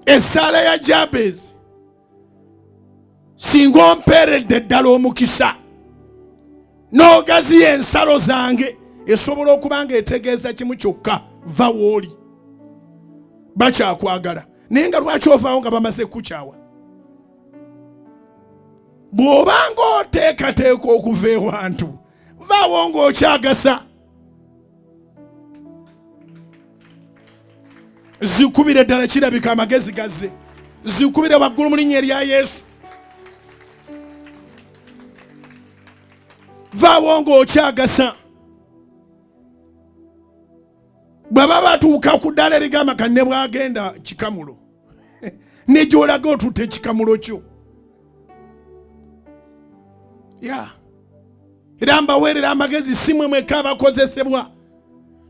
esaala ya jabezi singa ompeeredde ddala omukisa n'ogaziya ensalo zange esobola okuba nga etegeeza kimu kyokka va wooli bakyakwagala naye nga lwaki ovaawo nga bamaze kukukyawa bw'oba ng'oteekateeka okuva ewantu vaawo ng'okyagasa zikubire ddala kirabika amagezi gazze zikubire waggulu mu linnya erya yesu vaawo ng'okyagasa bw'aba batuuka ku ddaala erigamba kanne bw'agenda kikamulo ne gy'olaga otutte ekikamulo kyo ya era mbaweerera amagezi si mwe mweka abakozesebwa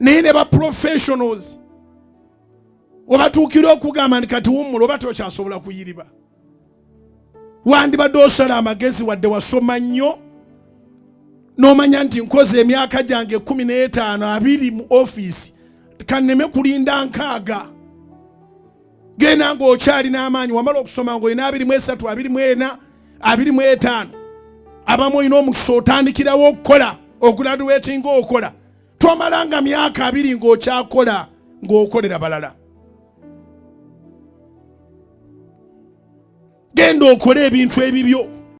naye ne ba professionals obatuukira okugamba nti kati wummula oba tokyasobola kuyiriba wandibadde osala amagezi wadde wasoma nnyo n'omanya nti nkoze emyaka gyange kumi n'etaano abiri mu ofiisi kanneme kulinda nkaaga genda ng'okyali n'amaanyi wamala okusoma ng'olina abiri mu esatu abiri mu ena abiri mu etaano abamu olina omukisa otandikirawo okukola oguladuwetinga okola twamala nga myaka abiri ng'okyakola ng'okolera balala genda okole ebintu ebibyo